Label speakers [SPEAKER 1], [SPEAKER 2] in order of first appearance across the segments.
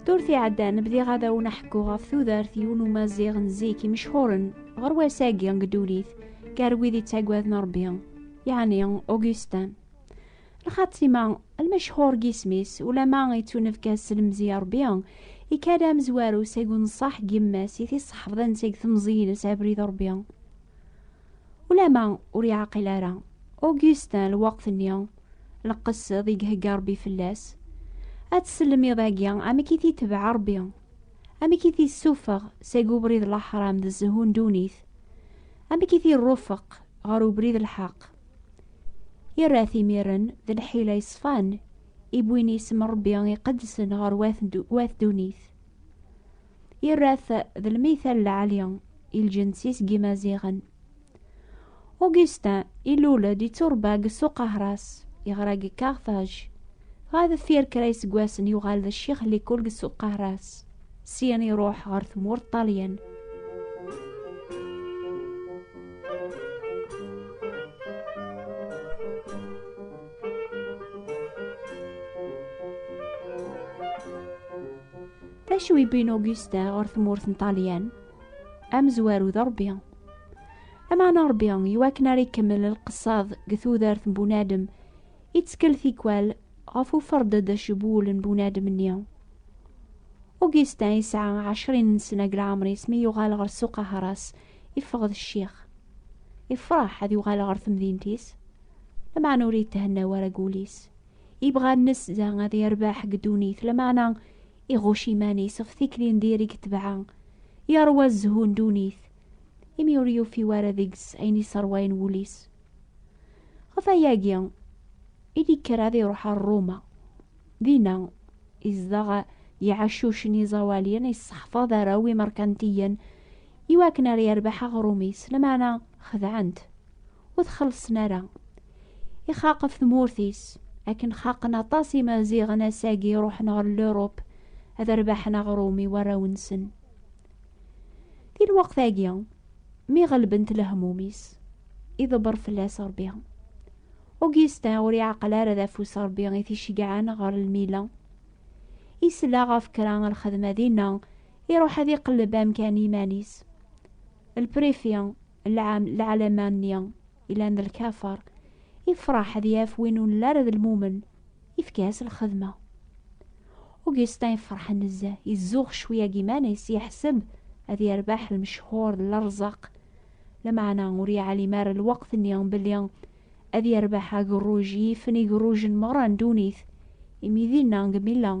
[SPEAKER 1] Ddurt iɛeddan bdiɣ ad awen aḥekku ɣef tudert yiwen umaziɣ n zik imecḥuren ɣer wass-agi deg ddunit gar wid yettaggaden Rebbi, yeɛni Augustin. Lxatima, lmecḥur n yisem-is, ulama yettunefka s lemzi Rebbi, ikad amezwaru seg unṣaḥ n yemma-s i t-iṣeḥbden seg temẓi-ines abrid Rebbi. Ulama ur yeɛqil ara Augustin lweqt-nni n lqesd i ihegga Rebbi fell-as, ad tsellem iḍ-agi amek i t-itebɛ Rebbi, amek i t-issufeɣ seg ubrid n laḥram d zzhu n ddunit, amek i t-irufeq ɣer ubrid n lḥeqq. Irra-t imiren d lḥila yeṣfan i wwin isem n Rebbi iqedsen ɣer wat ddunit. yerra-t d lmital lɛali i lǧens-is n yimaziɣen. Augustin ilul-d yetturebba deg Ssuq Ahras, yeɣra deg Carthage. Ɣer deffir kra iseggasen yuɣal d ccix n likul deg Ssuq Ahras. Syin iruḥ ɣer tmurt Ṭṭalyan. D acu ibbin Augusta ɣer tmurt n Ṭalyan? Amezwaru d Ṛebbi. Ameɛna Ṛebbi, iwakken ara ikemmel lqeṣṣad deg tudert n bunadem, ittkel tikwal ɣef uferdeḍ acbul n bunadem-nni. Augustin yesɛa ɛecrin n sna deg leɛmer-is mi yuɣal ɣer ssuq aharas, iffeɣ d ccix. Ifreḥ ad yuɣal ɣer temdint-is, lameɛna ur yethenna wara deg wul-is. Ibɣa nesda ad yerbeḥ deg ddunit, lameɛna iɣucc iman-is ɣef tikli n diri deg tebɛa, yeṛwa zzhu n ddunit, imi ur yufi wara deg-s ayen yesseṛwayen wul-is. Ɣef wayagi i d-yekker ad iṛuḥ ar Ruma. Dinna, izdeɣ iɛeccuc n yiẓawaliyen, yesseḥfaḍ arraw imeṛkantiyen iwakken ar yerbeḥ aɣrum-is, lameɛna xedɛen-t. ur t-xellṣen ara. Ixaq ɣef tmurt-is, akken xaqen aṭas imaziɣen ass-agi ruḥen ɣer Lurup ad rbaḥen aɣrum i warraw-nsen. Di lweqt-agi, mi ɣelbent lehmum-is, iḍebber fell-as Rebbi. Augustin ur iɛaqel ara d afus Rebbi i t-iceggɛen ɣer lmila. Isla ɣef kra lxedma dinna, iruḥ ad iqelleb amkan iman-is. Lprifi lɛalama-nni ilan d lkafer, ifraḥ ad yaf win ur nelli ara d lmumen, ifka-as lxedma. Augustin ifraḥ nezzeh, izuɣ cwi ag iman-is, yeḥseb ad yerbeḥ lmecḥur d lerzaq, lameɛna ur yeɛlim ara lweqt-nni belli ad yerbeḥ agerruj yifen igerrujen merra n ddunit, imi dinna deg Milan,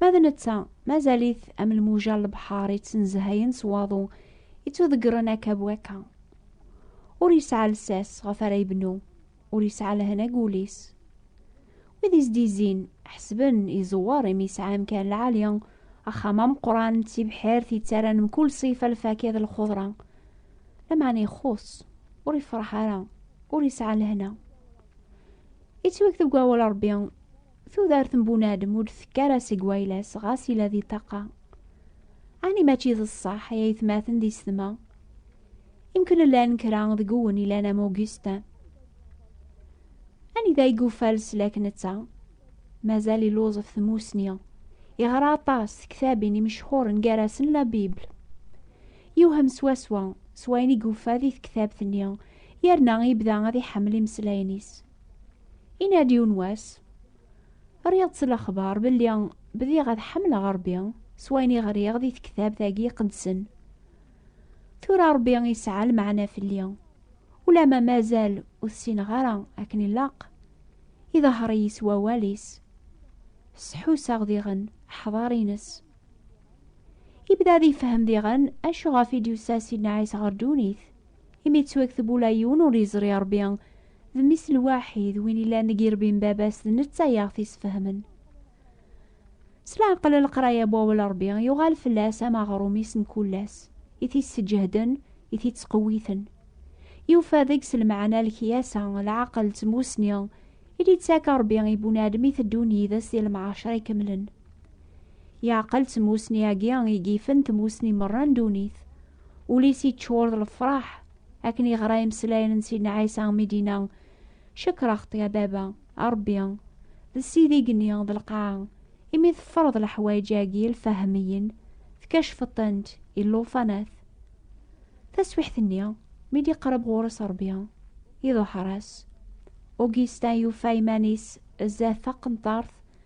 [SPEAKER 1] Ma d netta, mazal-it am lmuja n lebḥer yettnezhayen s waḍu, yettudeggren akka bu akka. Ur yesɛa lsas ɣef ara yebnu, ur yesɛa lehna deg wul-is. Wid is-d-izzin, ḥesben iẓewwer imi yesɛa amkan lɛali, axxam ameqqran d tibḥirt yettaran mkul ṣifa lfakya d lxudra. Lameɛna ixuṣ, ur yefṛeḥ ara, ur yesɛa lehna. Yettweg deg wawal Ṛebbi, Tudert n bunadem ur d-tekka ara seg wayla-s ɣas yella di ṭṭaqa. Ɛni mačči d ṣṣeḥ ay aytmaten di setma? Imken llan kra deg uwen ilan am Augustin. Anida ay yuffa leslak netta? Mazal illuẓ ɣef tmussni. Yeɣra aṭas tektabin imecḥuren gar-asen La Bible. Yewhem swaswa s wayen i yuffa di tektabt-nni yerna yebda ad iḥemmel imeslayen-is. Yenna-d yiwen wass, rriɣ-d s lexbar belli bdiɣ ad ḥemmleɣ Rebbi s wayen i ɣriɣ di tektabt-agi iqedsen. Tura Rebbi yesɛa lmeɛna fell-i, ulamma mazal ur t-ssineɣ ara akken ilaq, iḍehher-iyi s wawal-is, sḥuseɣ diɣen aḥḍar-ines. Yebda ad ifehhem diɣen acu ɣef i d-yusa Sidna Ɛisa ɣer ddunit, Imi yettwakteb ula yiwen ur yeẓri Ṛebbi d mmi-s lwaḥid, win yellan deg irebbi n Baba-s, d netta i aɣ-t-isfehmen. S leɛqel n leqraya n Wawal n Ṛebbi, yuɣal fell-as am aɣrum-is mkul ass, i t-isseǧehden, i t-ittqewwiten. Yufa deg-s lmeɛna n lekyasa, leɛqel d tmussni, i d-yettak Ṛebbi i bunadem i teddun yid-s di lemɛacer ikemlen. Leɛqel d tmussni-agi i yifen tmussni merra n ddunit. ul-is yeččur d lefraḥ akken yeɣra imeslayen n Sidna Ɛisa mi d-yenna cekreɣ-t ya baba a Rebbi d sidi gni d lqaɛa imi teffreḍ leḥwayeǧ-agi lfahmiyin tkacfeḍ-tent i llufanat taswiḥt-nni mi d-iqreb ɣur-s Rebbi iḍuḥer-as Augustin yufa iman-is zdat taqenṭart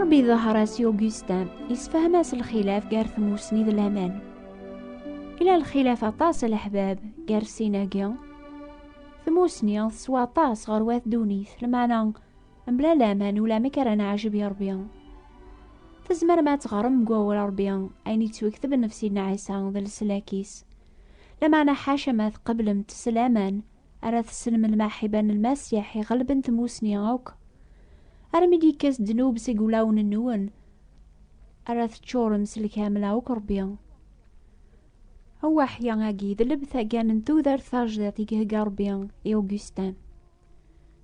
[SPEAKER 1] Ṛebbi iḍher-as i Augustin, yessefhem-as lxilaf gar tmussni d laman. Ila lxilaf aṭas a leḥbab gar sin-agi. Tmussni teswa aṭas ɣer wat ddunit, lmeɛna mebla laman ulamek ara neɛjeb i Ṛebbi. Tzemrem ad teɣrem deg wawal Ṛebbi ayen yettwekteb nnefs-in Ɛisa d leslak-is. Lameɛna ḥaca ma tqeblemt s laman, ara tessnem lmaḥiba n Lmasiḥ iɣelben tmusni akk, armi d-yekkas ddnub seg wulawen-nwen, ara teččurem s lkamla akk Rebbi. Awaḥya-agi d lebta kan n tudert tajdiṭ i ihegga Rebbi i Augustin.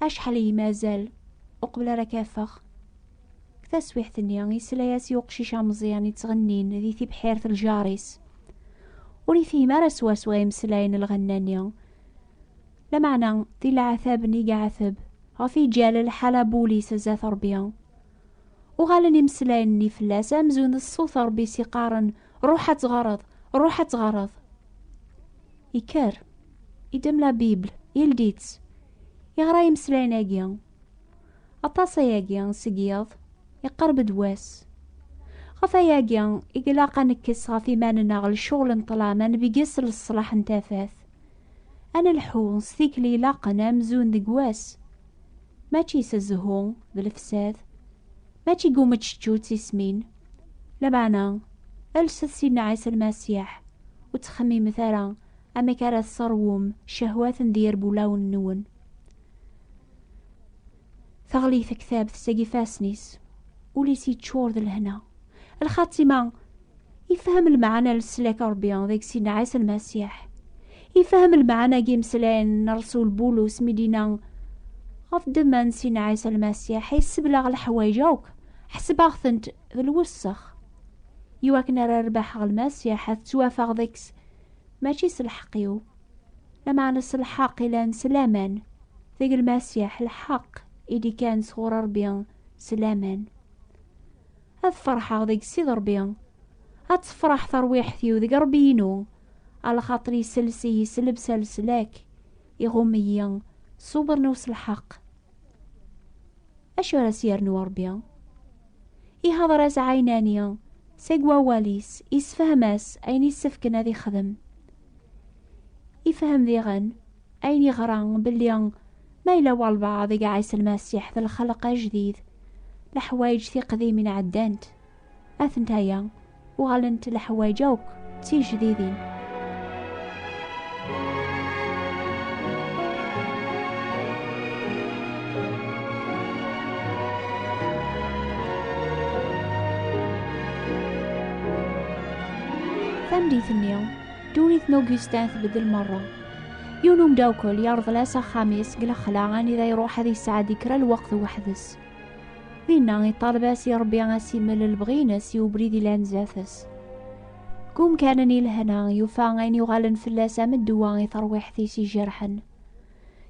[SPEAKER 1] Acḥal iyi mazal uqbel ara k-afeɣ. Taswiḥt-nni, yesla-as i uqcic ameẓyan yettɣennin di tibḥirt ljar-is. Ur ifhim ara swaswa imeslayen n lɣenna-nni. Lameɛna, di leɛtab n igeɛteb, ɣef iǧal lḥal abul-is zdat Rebbi. Uɣalen imeslayen-nni fell-as amzun d ṣṣut Rebbi s iqqaren Ruḥ ad tɣareḍ, ruḥ ad tɣareḍ. Ikker, idem la Bible, ildi-tt, iɣra imeslayen-agi. Aṭas ayagi seg yiḍ, iqerb-d wass. Ɣef ayagi, i ilaq ad nekkes ɣef iman-nneɣ lecɣel n ṭlam, ad nbegges leṣlaḥ n tafat. Ad nelḥu s tikli ilaqen amzun deg wass, mačči s zzhu d lefsad, Mačči deg umeččečču d tismin, lameɛna alset Sidna Ɛisa Lmasiḥ, ur ttxemmimet ara amek ara tseṛwum cehwaten d yerbulawen-nwen. Teɣli tektabt seg ifassen-is, ul-is yeččur d lehna. Lxatima ifhem lmeɛna n leslak n Rebbi deg sin Ɛisa Lmasiḥ. Ifhem lmeɛna n yimeslayen n Rrsul Bulus mi d-yenna ɣef ddemma n sin Ɛisa Lmasiḥ ay sseblaɣ leḥwayeǧ akk, ḥesbeɣ-tent d lwessex. I wakken ara rbaḥeɣ Lmasiḥ, ad ttwafaɣ deg-s, mačči s lḥeqq-iw, lameɛna s lḥeqq ilan s laman, deg Lmasiḥ, lḥeqq i d-ikkan sɣur Rebbi s laman. ad ferḥeɣ deg Ssid Ṛebbi. Ad tefreḥ terwiḥt-iw deg Ṛebbi-inu, alxaṭer iselles-iyi s lebsa n leslak, iɣumm-iyi s uberniw s lḥeqq. Acu ara s-yernu Ṛebbi? Ihdeṛ-as ɛinani seg wawal-is, isefhem-as ayen isefken ad ixdem. Ifhem diɣen Ayen yeɣra belli ma yella walbaɛḍ i iɛis lmasiḥ d lxelq ajdid, leḥwayeǧ tiqdimin ɛeddant, atent aya, uɣalent leḥwayeǧ akk d tijdidin. Tamdit-nni, ddunit n Augustin tbeddel merra. yiwen umdakkel yerḍel-as axxam-is deg lexla anida iruḥ ad yesɛeddi kra lweqt weḥd-s dinna iṭaleb-as i rebbi asimel lebɣi-ines i ubrid ilan zdat-s deg umkan-nni ilehna yufa ayen yuɣalen fell-as am ddwa i terwiḥt-is ijerḥen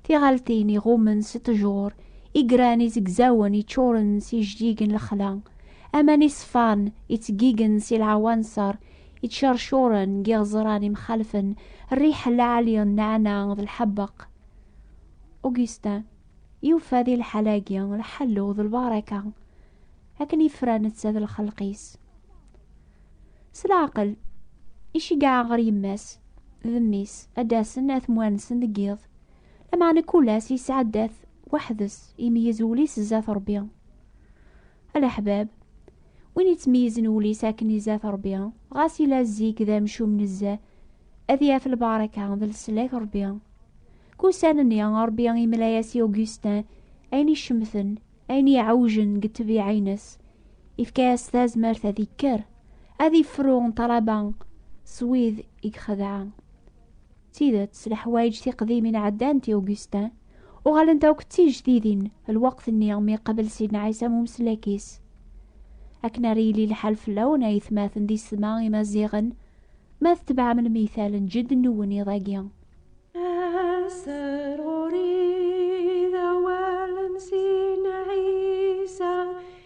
[SPEAKER 1] tiɣaltin iɣummen s ttjur igran izegzawen iččuren s ijdigen lexla aman iṣfan ittgigen si lɛawanṣer iččercuren n yiɣeẓran imxalfen rriḥa lɛali n nneɛna d lḥebeq. Augustin yufa di lḥal-agi lḥellu d lbaraka akken yefra netta d lxelq-is. S leɛqel, iceggeɛ ɣer yemma-s d mmi-s ad d-asen ad t-mwansen deg yiḍ, lameɛna kul ass yesɛedda-t weḥd-s, imeyyez wul-is zdat Rebbi. A leḥbab, win yettmeyyizen wul-is akken izat Ṛebbi, ɣas yella zik d amcum nezzeh, ad yaf lbaraka d leslak Ṛebbi. Deg ussan-nni, Ṛebbi yemla-as i Augustin ayen icemten, ayen iɛewjen deg ṭṭbiɛa-nnes. Yefka-as tazmert ad ikker, ad ifru ṭṭalaba s wid i ixedɛa. D tidet, s leḥwayeǧ tiqdimin ɛeddant i Augustin, uɣalent akk d tijdidin lweqt-nni mi iqabel Sidna Ɛisa am umeslak-is. Akken ara yili lḥal fell-awen ay tmaten d isetma imaziɣen, ma tetbeɛem lmital n jedden-nwen iḍ-agi. Aser
[SPEAKER 2] ɣur-i d awal n Sidna Ɛisa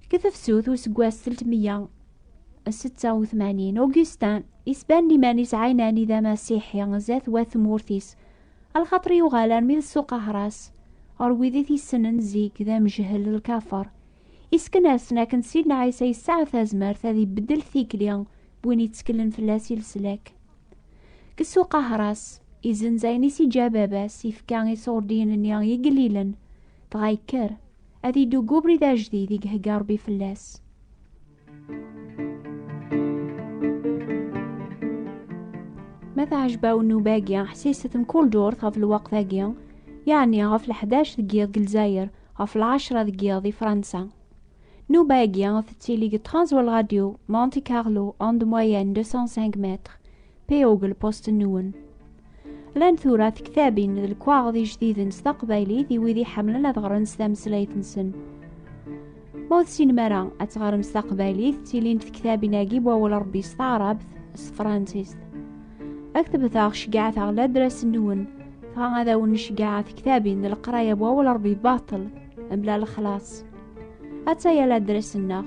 [SPEAKER 1] Deg tefsut useggas selt meyya setta u tmanin, Augustin isban iman-is ɛinani d amasiḥi zdat wat tmurt-is, alxaṭer yuɣal armi d ssuq ahras, ɣer wid i t-issenen zik d amejhel d lkafer, isken-asen akken Sidna Ɛisa yesɛa tazmert ad ibeddel tikli n win yetteklen fell-as i leslak. Deg ssuq ahras, izenz ayen i s-iǧǧa baba-s, ifka i ṣurdiyen-nni igellilen, dɣa yekker. Ad iddu deg ubrid ajdid i ihegga Rebbi fell-as. Ma tɛejba-w nnuba-agi, ḥsiset mkul ddurt ɣef lweqt-agi, yeɛni ɣef leḥdac deg yiḍ deg Lezzayer, ɣef lɛecra deg yiḍ di Fransa. Nnuba-agi tettili deg 13 Walradio, Monte Carlo, onde moyenne 205 mètres, Peyogel Postenuen. Lan tura tektabin d lekwaɣeḍ ijdiden s taqbaylit i wid iḥemmlen ad ɣren s tameslayt-nsen. Ma ur tessinem ara ad teɣrem s taqbaylit, ttilint tektabin-agi n wawal Rebbi s taɛrabt, s tefransist. Ad k-tebteɣ ceggɛet-aɣ ladras-nwen, dɣa ad awen-ceggɛeɣ tektabin n leqraya n wawal Rebbi baṭel, mebla lexlaṣ. Atta ya ladras-nneɣ.